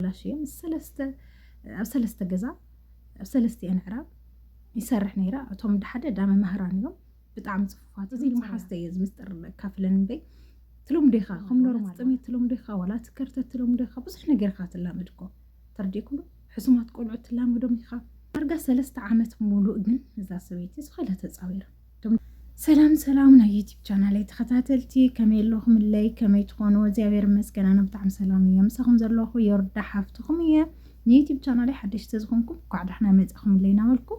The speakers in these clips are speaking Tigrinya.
ተበላሽየ ምስ ሰለስተ ኣብ ሰለስተ ገዛ ኣብ ሰለስቲኤን ዕራብ ይሰርሕ ነይረ እቶም ድሓደ ዳ መምህራን እዮም ብጣዕሚ ፅፉፋት እዚ መሓዝተ እየ ዝምስጥር ካፍለን እምበይ ትሎም ዴኻ ከም ኖርማል ጥሜት ትሎም ዴኻ ዋላ ትከርተት ትሎም ዴኻ ብዙሕ ነገር ኢኻ ትላመድ እኮ ተርዲእኩሉ ሕሱማት ቆልዑት ትላመዶም ኢኻ ዳርጋ ሰለስተ ዓመት ሙሉእ ግን እዛ ሰበይቲ ዝኸለ ተፃዊራ ሰላም ሰላም ናይ ዩቲብ ቻናለይ ተኸታተልቲ ከመይ ኣለኹምለይ ከመይ ትኾኑ እግዚኣብሔር ይመስገን ኣነ ብጣዕሚ ሰላም እየ ምሳኹም ዘለኹ የወርዳ ሓፍትኹም እየ ንዩቲብ ቻናለይ ሓደሽቲ ዝኾንኩም ኳዕ ዳሕና መፃኹምለይ እናበልኩ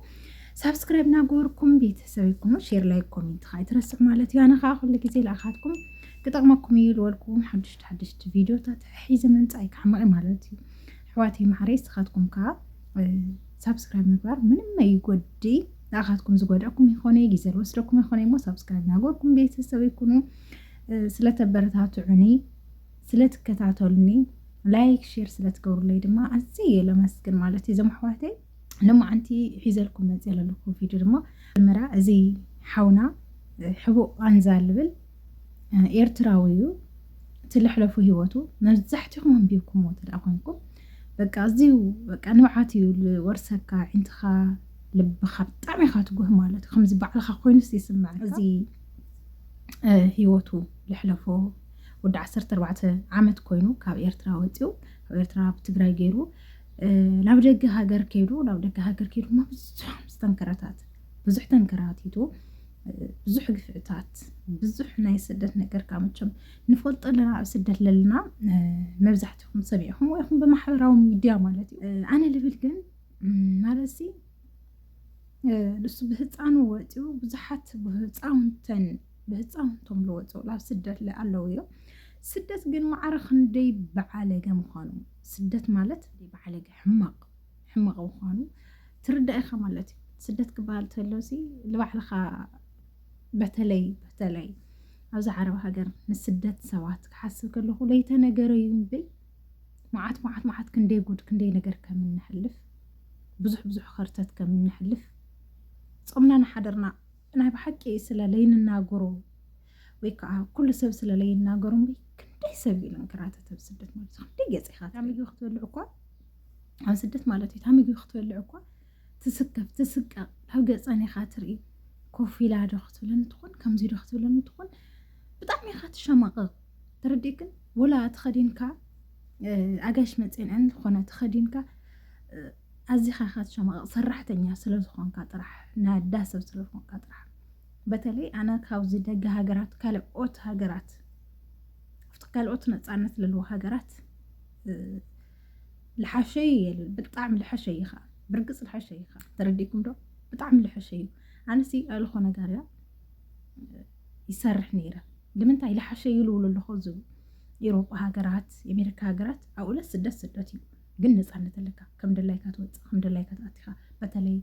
ሳብስክራይብ እናገበርኩም ቤተሰብ ይኩኑ ሼር ላይ ኮሜንት ከዓ ይትረስዕ ማለት እዩ ኣነ ከዓ ኩሉ ግዜ ልኣኻትኩም ክጠቕመኩም እዩ ዝበልኩም ሓደሽቲ ሓደሽቲ ቪዲዮታት ሒዘ ምምፃእ ይካዕመቂ ማለት እዩ ኣሕዋተይ ማዕረይ ንስኻትኩም ከዓ ሳብስክራይብ ምግባር ምንም ኣይጎድእ ንኣኻትኩም ዝጎድኣኩም ይኾነ ግዜ ዝወስደኩም ይኾነ እሞ ሳብስክራይብ ናገርኩም ቤተሰብ ይኩኑ ስለተበረታትዑኒ ስለትከታተሉኒ ላይክ ሼር ስለትገብሩለይ ድማ ኣዝየ እየ ለመስግን ማለት እዩ እዞም ኣሕዋተይ ልማዓንቲ ሒዘልኩም መፅእ ዘለኹ ቪድዮ ድማ መጀመርያ እዚ ሓውና ሕቡእ ኣንዛ ልብል ኤርትራዊ እዩ እቲ ልሕለፉ ሂወቱ መብዛሕትኹም ኣንቢብኩምዎ እንተደኣ ኮንኩም በቃ ኣዝዩ በቃ ንብዓት እዩ ዝወርሰካ ዕንትኻ ልብኻ ብጣዕሚ ኢኻ ትጉህ ማለት እዩ ከምዚ ባዕልኻ ኮይኑስ ይስምዐካ እዚ ሂወቱ ልሕለፎ ወዲ 14 ዓመት ኮይኑ ካብ ኤርትራ ወፂኡ ካብ ኤርትራ ኣብ ትግራይ ገይሩ ናብ ደገ ሃገር ከይዱ ናብ ደገ ሃገር ከይዱ ድማ ብዙሖም ዝተንከረታት ብዙሕ ተንከራቲቱ ብዙሕ ግፍዕታት ብዙሕ ናይ ስደት ነገር ካብ መቸም ንፈልጦ ኣለና ኣብ ስደት ለልና መብዛሕትኹም ሰሚዕኹም ወይ ኹም ብማሕበራዊ ሚድያ ማለት እዩ ኣነ ልብል ግን ማለት ንሱ ብህፃኑ ወፂኡ ብዙሓት ብህፃውንተን ብህፃውንቶም ዝወፅኡ ኣብ ስደት ኣለዉ እዮም ስደት ግን ማዕረ ክንደይ ብዓለገ ምዃኑ ስደት ማለት ብዓለገ ሕማቕ ሕማቕ ምዃኑ ትርዳእ ኢኻ ማለት እዩ ስደት ክበሃል ተሎ ሲ ንባዕልኻ በተለይ በተለይ ኣብዚ ዓረብ ሃገር ንስደት ሰባት ክሓስብ ከለኹ ለይተነገረ እዩ እምበይ መዓት መዓት መዓት ክንደይ ጉድ ክንደይ ነገር ከም እንሕልፍ ብዙሕ ብዙሕ ኸርተት ከም እንሕልፍ ጾምና ንሓደርና ናይ ብሓቂ ስለ ለይንናገሮ ወይ ከዓ ኩሉ ሰብ ስለ ለይናገሮ እምበይ ክንደይ ሰብ እዩ ለንከራተት ኣብ ስደት ማለት ክንደይ ገፂኻ ምግቢ ክትበልዕ እኳ ኣብ ስደት ማለት እዩ እታ ምግቢ ክትበልዕ እኳ ትስከፍ ትስቀቕ ናብ ገፀን ኢኻ ትርኢ ኮፍ ኢላ ዶ ክትብለኒ ትኾን ከምዚ ዶ ክትብለኒ ትኾን ብጣዕሚ ኢኻ ትሸማቐቕ ተረዲእክን ወላ ተኸዲንካ ኣጋሽ መፅንዐን ዝኾነ ተኸዲንካ ኣዚኻ ኢኻ ትሸማቐቕ ሰራሕተኛ ስለ ዝኾንካ ጥራሕ ናይ ኣዳ ሰብ ስለ ዝኾንካ ጥራሕ በተለይ ኣነ ካብዚ ደገ ሃገራት ካልኦት ሃገራት ካልኦት ነፃነት ዘለዎ ሃገራት ልሓሸዩ እየ ልብል ብጣዕሚ ልሐሸዩ እዩ ከዓ ብርግፅ ልሐሸዩ እዩ ከዓ ተረዲእኩም ዶ ብጣዕሚ ልሐሸዩ ኣነሲ ኣልኾ ነገር እያ ይሰርሕ ነይረ ንምንታይ ልሓሸዩ ልብሉ ኣለኹ ዝብ ኤሮፓ ሃገራት የሜሪካ ሃገራት ኣብኡለ ስደት ስደት እዩ ግን ነፃነት ኣለካ ከም ድላይካ ትወፅእ ከም ድላይካ ትኣቲኻ በተለይ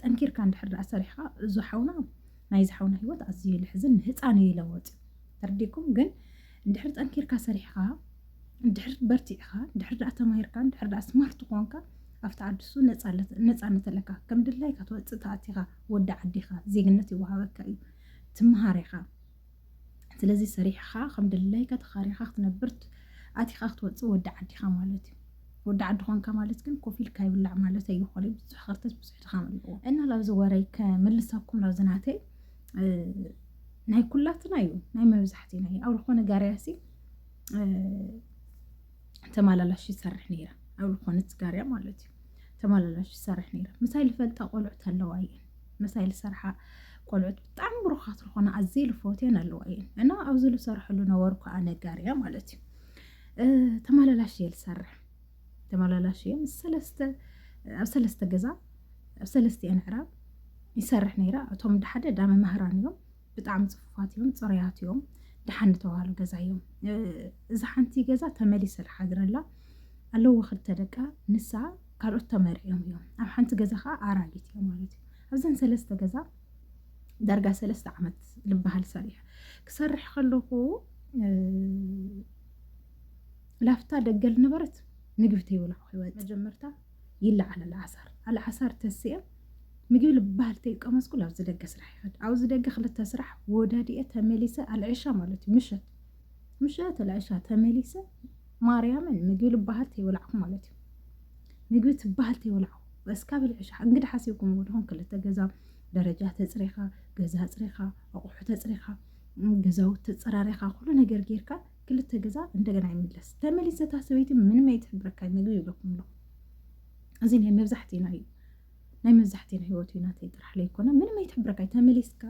ጠንኪርካ እንድሕር ዳኣ ሰሪሕካ እዙ ሓውና ናይ ዝሓውና ህይወት ኣዝዩ ልሕዝን ንህፃን እዩ ይለወጥ ተርዲኩም ግን እንድሕር ጠንኪርካ ሰሪሕኻ፣ እንድሕር በርቲዕኻ፣ እንድሕር ደኣ ተማሂርካ፣ እንድሕር ደኣ ስማርት ኾንካ፣ ኣብቲ ዓዲ እሱ ነጻነት ኣለካ። ከም ድላይካ ትወጽእ ትኣቲኻ፣ ወዲ ዓዲ ኢኻ፣ ዜግነት ይወሃበካ እዩ። ትመሃር ኢኻ። ስለዚ ሰሪሕኻ ከም ድላይካ ተኻሪኻ ክትነብር ኣቲኻ ክትወጽእ ወዲ ዓዲ ኢኻ ማለት እዩ። ወዲ ዓዲ ኾንካ ማለት ግን ኮፍ ኢልካ ይብላዕ ማለት ኣይኾነን። ብዙሕ ኸርተት ብዙሕ ድኻም ኣለዎ እና ላብዚ ወረይ ከምልሰኩም ላብዚ ናተይ ናይ ኩላትና እዩ ናይ መብዛሕትና እዩ ኣብ ዝኾነ ጋርያሲ ተመላላሽ ይሰርሕ ነይረ ኣብ ዝኾነት ጋርያ ማለት እዩ ተመላላሽ ይሰርሕ ነይረ ምሳይ ልፈልጣ ቆልዑት ኣለዋ እየን ምሳይ ልሰርሓ ቆልዑት ብጣዕሚ ብሩኻት ዝኾነ ኣዘይ ልፈትየን ኣለዋ እየን እና ኣብዚ ልሰርሐሉ ነበርኩ ኣነ ጋርያ ማለት እዩ ተመላላሽ እየ ልሰርሕ ተመላላሽ እየ ምስ ሰለስተ ኣብ ሰለስተ ገዛ ኣብ ሰለስቲአን ዕራብ ይሰርሕ ነይረ እቶም ደሓደ ዳ መምህራን እዮም ብጣዕሚ ፅፉፋት እዮም ፅሩያት እዮም ደሓን ዝተባሃሉ ገዛ እዮም እዚ ሓንቲ ገዛ ተመሊሰ ዝሓድረላ ኣለዎ ክልተ ደቃ ንሳ ካልኦት ተመሪዕዮም እዮም ኣብ ሓንቲ ገዛ ከዓ ኣራጊት እዮም ማለት እዩ ኣብዘን ሰለስተ ገዛ ዳርጋ ሰለስተ ዓመት ዝበሃል ሰሪሕ ክሰርሕ ከለኹ ላፍታ ደገል ነበረት ምግቢ ተይበላ ክወፅ መጀመርታ ይለዓል ኣልዓሳር ኣልዓሳር ተስአ ምግቢ ልባህል ተይቀመስኩ ኣብዚ ደገ ስራሕ ይኸድ ኣብዚ ደገ ክልተ ስራሕ ወዳድየ ተመሊሰ ኣልዕሻ ማለት እዩ ምሸት ምሸት ኣልዕሻ ተመሊሰ ማርያምን ምግቢ ልባህል ተይበላዕኩ ማለት እዩ ምግቢ ትባህል ተይበላዕኩ እስካ ብልዕሻ እንግዲ ሓሲብኩም ወድኹም ክልተ ገዛ ደረጃ ተፅሪኻ ገዛ ፅሪኻ ኣቑሑ ተፅሪኻ ገዛውት ተፀራሪኻ ኩሉ ነገር ጌርካ ክልተ ገዛ እንደገና ይምለስ ተመሊሰ እታ ሰበይቲ ምንም ኣይትሕብረካ ምግቢ ይብለኩም ኣለኹ እዚ ናይ መብዛሕትእና እዩ ናይ መብዛሕትእና ሂወት እዩ ናተይ ጥራሕ ለይኮነ ምንም ኣይትሕብረካ እዩ ተመሊስካ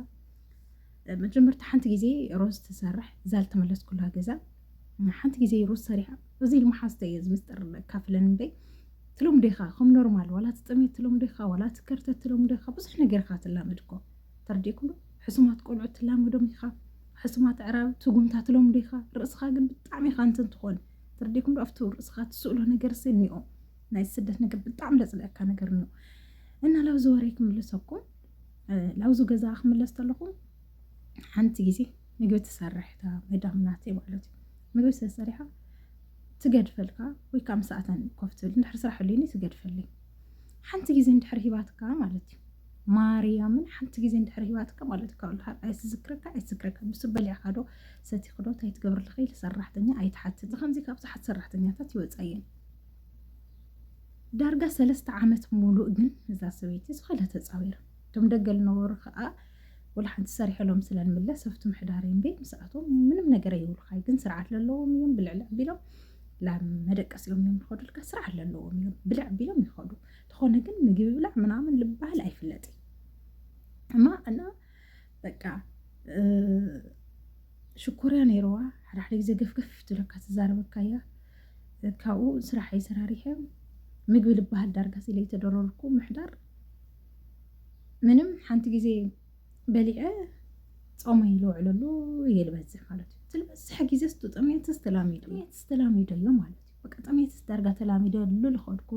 መጀመርታ ሓንቲ ግዜ ሮዝ ትሰርሕ እዛ ዝተመለስኩላ ገዛ ሓንቲ ግዜ ሮዝ ሰሪሓ እዚ ልመሓዝተ እየ ዝምስጥር ካፍለን እምበይ ትሎም ዴኻ ከም ኖርማል ዋላ ትጥሜት ትሎም ዴኻ ዋላ ትከርተት ትሎም ዴኻ ብዙሕ ነገር ኢኻ ትላመድ እኮ ተረዲእኩም ሕሱማት ቆልዑት ትላመዶም ኢኻ ኣስማት ኣዕራብ ስጉምታ ትለምዶ ኢካ ርእስካ ግን ብጣዕሚ ኢካ እንትን ትኮን ተረዲኩም ዶ ኣብቱ ርእስካ ትስእሎ ነገር ሲ እኒኦ ናይ ስደት ነገር ብጣዕሚ ለጽለካ ነገር እኒኦ እና ላብዚ ወሬ ክምልሰኩም ላብዚ ገዛ ክምለስ ተለኹም ሓንቲ ግዜ ምግቢ ትሰርሕ እታ መዳም ናተይ ማለት እዩ ምግቢ ስለሰሪሓ ትገድፈልካ ወይ ከዓ ምሳኣተን ኮፍ ትብል እንድሕር ስራሕ ኣልዩኒ ትገድፈለይ ሓንቲ ግዜ እንድሕር ሂባትካ ማለት እዩ ማርያምን ሓንቲ ግዜ እንድሕር ሂባትካ ማለት ካብ ልሃር ኣይትዝክረካ ኣይትዝክረካ ምስ በሊዕካዶ ሰቲኽዶ እንታይ ትገብርልኺ ኢለ ሰራሕተኛ ኣይትሓትት ብከምዚ ካብ ዝሓት ሰራሕተኛታት ይወፃየን ዳርጋ ሰለስተ ዓመት ሙሉእ ግን እዛ ሰበይቲ ዝኾነ ተፃዊራ እቶም ደገ ዝነበሩ ከዓ ወላ ሓንቲ ሰሪሐሎም ስለንምለስ ኣብቲ ምሕዳር እምበ ምስኣቶም ምንም ነገር ኣይብሉኻይ ግን ስርዓት ዘለዎም እዮም ብልዕልዕ ቢሎም ላብ መደቀሲኦም እዮም ዝኸዱልካ ስርዓት ዘለዎም እዮም ብልዕ ቢሎም ይኸዱ ተኾነ ግን ምግቢ ብላዕ ምናምን ልባህል ኣይፍለጥ እማ እና በቃ ሽኮርያ ነይረዋ ሓዳሕደ ግዜ ገፍገፍ ትብለካ ትዛረበካ እያ ካብኡ ስራሕ ይሰራሪሐ ምግቢ ልባሃል ዳርጋ ሲለ ተደረርኩ ምሕዳር ምንም ሓንቲ ግዜ በሊዐ ፆመይ ዝውዕለሉ እየ ዝበዝሕ ማለት እዩ ዝበዝሕ ግዜ ስተጠምየት ስተላሚዶ እየ ስተላሚዶ እዮ ማለት እዩ በቃ ጥሜትስ ዳርጋ ተላሚደሉ ልኸድኩ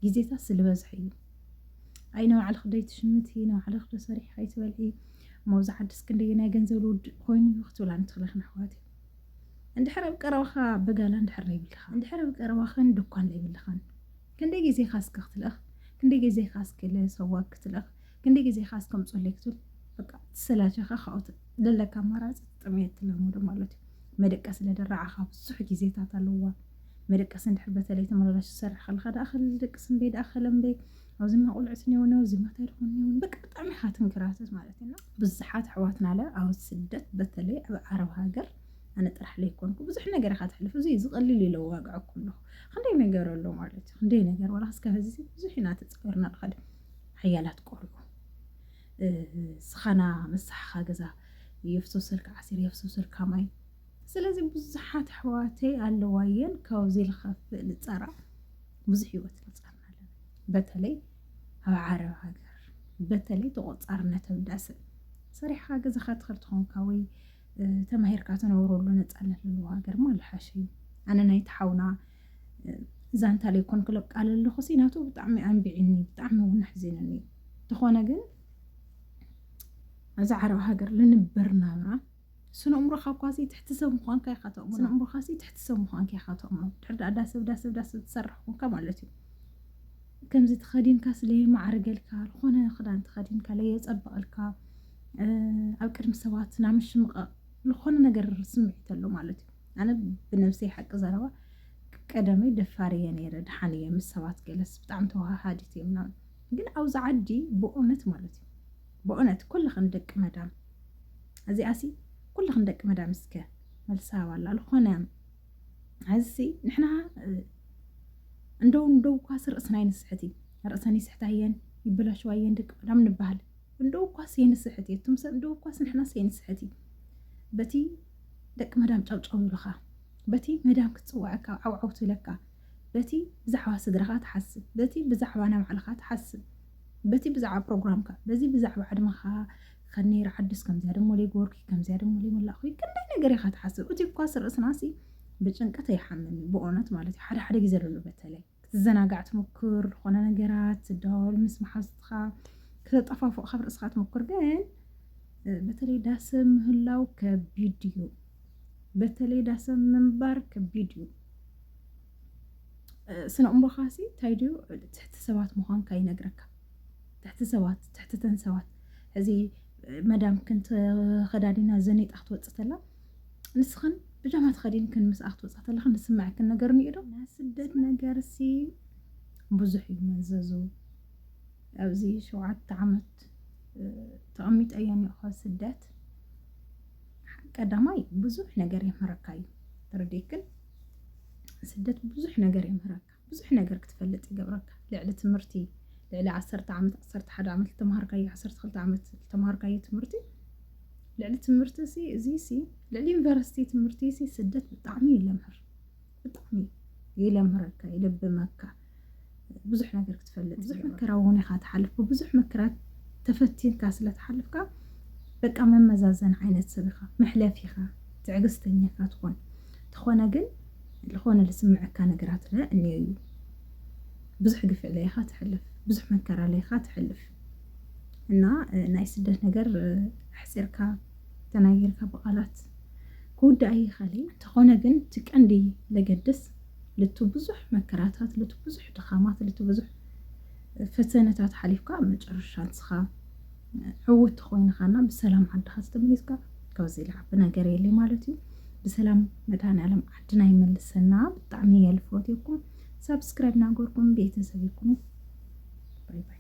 ግዜታት ስልበዝሐ እዩ ኣይ ንባዕልኽ ዶ ይትሽምቲ ንባዕልኽ ዶ ሰሪሕ ከይትበልዒ መብዛ ዓድስ ክንደየ ናይ ገንዘብ ልውድእ ኮይኑ እዩ ክትብላ ንትኽለኽን ኣሕዋት እዩ እንድሕር ኣብ ቀረባኻ በጋላ እንድሕር ዘይብልኻ እንድሕር ኣብ ቀረባኽን ድኳን ዘይብልኻን ክንደይ ግዜኻ እስከ ክትልእኽ ክንደይ ግዜኻ እስከ ሰዋግ ክትልእኽ ክንደይ ግዜ ኢኻ ዝተምፀለይ ክትብል በቃ ትሰላቸኻ ካብኡ ዘለካ ኣማራፂ ጥምየት ትለምዶ ማለት እዩ መደቀሲ ለደራዓኻ ብዙሕ ግዜታት ኣለዋ መደቀሲ እንድሕር በተለይ ተመላላሽ ዝሰርሕ ከለካ ደኣ ከልደቅስ እምበይ ደኣ ከለምበይ ኣብዚማ ቁልዕት ኔውን ኣብዚማ እንታይ ደኹን ኔውን በቃ ብጣዕሚ ኢኻ ትንክራተት ማለት እዩ ብዙሓት ኣሕዋትና ለ ኣብ ስደት በተለይ ኣብ ዓረብ ሃገር ኣነ ጥራሕ ለይኮንኩ ብዙሕ ነገር ኢኻ ትሕልፍ እዚ ዝቐልል ኢለ ዋግዐኩ ኣለኹ ክንደይ ነገር ኣሎ ማለት እዩ ክንደይ ነገር ዋላ ክስከ ህዚ ብዙሕ ኢና ተፀገርና ንኸደ ሓያላት ቆርዑ ዝኻና መሳሕኻ ገዛ የፍሶሰልካ ዓሲር የፍሶሰልካ ማይ ስለዚ ብዙሓት ኣሕዋተይ ኣለዋየን ካብዚ ልኸፍእ ልፀራ ብዙሕ ህይወት ንፀርና ኣለና በተለይ ኣብ ዓረብ ሃገር በተለይ ተቆፃርነት ኣብ ዳስን ሰሪሕኻ ገዛኻ ትኸል ትኾንካ ወይ ተማሂርካ ትነብረሉ ነፃነት ዘለዎ ሃገር ማ ልሓሽ እዩ ኣነ ናይቲ ሓውና ዛንታ ለይኮን ክለቃለ ኣለኹ ሲ ናቱ ብጣዕሚ ኣንቢዕኒ ብጣዕሚ እውን ኣሕዚኑኒ ተኾነ ግን ኣብዛ ዓረብ ሃገር ልንበር ናብራ ስነ እምሮኻ እኳ ሲ ትሕቲ ሰብ ምኳንካ ኢኻ ተእምኖ ስነ እምሮኻ ሲ ትሕቲ ሰብ ምኳንካ ኢኻ ተእምኖ ድሕር ዳኣ ዳሰብ ዳሰብ ዳሰብ ትሰርሕ ኮንካ ማለት እዩ ከምዚ ተኸዲንካ ስለ ማዕርገልካ ዝኾነ ክዳን ተኸዲንካ ለየፀበቐልካ ኣብ ቅድሚ ሰባት ናምሽምቐቕ ዝኾነ ነገር ስምዒት ኣሎ ማለት እዩ ኣነ ብነብሰይ ሓቂ ዘረባ ቀደመይ ደፋር እየ ነይረ ድሓን እየ ምስ ሰባት ገለስ ብጣዕሚ ተዋሃሃዲት እየ ምናምን ግን ኣብዚ ዓዲ ብእውነት ማለት እዩ ብእውነት ኩልኽን ደቂ መዳም እዚኣሲ ኩልኽን ደቂ መዳም እስከ መልሳ ዋላ ዝኾነ ሕዝሲ ንሕና እንደው እንደው ኳስ ርእስና ይንስሕት እዩ ርእሰን ይስሕታ እየን ይበላሸዋ እየን ደቂ መዳም ንበሃል እንደው ኳስ የንስሕት እየ እቱም ሰብ እንደው ኳስ ንሕናስ የንስሕት እዩ በቲ ደቂ መዳም ጨውጨው ይብልኻ በቲ መዳም ክትጽውዐካ ዓውዓው ትብለካ በቲ ብዛዕባ ስድራኻ ትሓስብ በቲ ብዛዕባ ናይ ባዕልኻ ትሓስብ በቲ ብዛዕባ ፕሮግራምካ በዚ ብዛዕባ ዕድመኻ ከነይ ርዓዱስ ከምዚያ ደሞ ለይገበርኩ ከምዚያ ደሞ ለይመላእኹ ክንደይ ነገር ኢኻ ትሓስብ እቲ እኳስ ርእስናሲ ብጭንቀት ኣይሓምም እዩ ብእውነት ማለት እዩ ሓደ ሓደ ግዜ ለሉ በተለይ ክትዘናጋዕ ትሙኩር ዝኾነ ነገራት ትዳወል ምስ መሓዙትኻ ክተጣፋፉቕ ካብ ርእስኻ ትሙኩር ግን በተለይ ዳሰ ምህላው ከቢድ እዩ በተለይ ዳሰ ምንባር ከቢድ እዩ ስነ እምቦኻሲ እንታይ ድዩ ትሕቲ ሰባት ምዃንካ ይነግረካ ትሕቲ ሰባት ትሕትተን ሰባት እዚ መዳም ክንተ ከዳዲና ዘኒጣ ክትወፅእ ተላ ንስኽን ብጃማ ተኸዲንክን ምስ ኣክትወፃ ተለኽን ዝስምዐክን ነገር እኒኦ ዶ ናይ ስደት ነገር ሲ ብዙሕ እዩ መዘዙ ኣብዚ ሸውዓተ ዓመት ተቐሚጠ እየ እኒኦኸ ስደት ቀዳማይ ብዙሕ ነገር የምህረካ እዩ ተረዲክን ስደት ብዙሕ ነገር የምህረካ ብዙሕ ነገር ክትፈልጥ ይገብረካ ልዕሊ ትምህርቲ ልዕሊ ዓሰርተ ዓመት ዓሰርተ ሓደ ዓመት ዝተምሃርካዮ ዓሰርተ ክልተ ዓመት ዝተምሃርካዮ ትምህርቲ ልዕሊ ትምህርቲ ሲ እዚ ሲ ልዕሊ ዩኒቨርሲቲ ትምህርቲ ሲ ስደት ብጣዕሚ ይለምህር ብጣዕሚ ይለምህረካ ይልብመካ ብዙሕ ነገር ክትፈልጥ ብዙሕ መከራ እውን ኢኻ ትሓልፍ ብብዙሕ መከራት ተፈቲንካ ስለ ትሓልፍካ በቃ መመዛዘን ዓይነት ሰብ ኢኻ መሕለፊ ኢኻ ትዕግስተኛ ኢኻ ትኾን ተኾነ ግን ልኾነ ልስምዐካ ነገራት ለ እኔዮ እዩ ብዙሕ ግፍዒ ለ ኢኻ ትሐልፍ ብዙሕ መከራ ለ ኢኻ ትሐልፍ እና ናይ ስደት ነገር ኣሕፂርካ ተናጊርካ ብቓላት ክውዳእ ይኸእል እንተኾነ ግን እቲ ቀንዲ ለገድስ ልቱ ብዙሕ መከራታት ልቱ ብዙሕ ድኻማት ልቱ ብዙሕ ፈተነታት ሓሊፍካ ኣብ መጨረሻ ንስኻ ዕውት ተኾይንኻና ብሰላም ዓድኻ ዝተመሊስካ ካብዚ ልዓቢ ነገር የለ ማለት እዩ ብሰላም መድሃኒዓለም ዓድና ይመልሰና ብጣዕሚ እየ ልፈትየኩም ሳብስክራይብ ናገርኩም ቤተሰብ ይኩኑ ባይ ባይ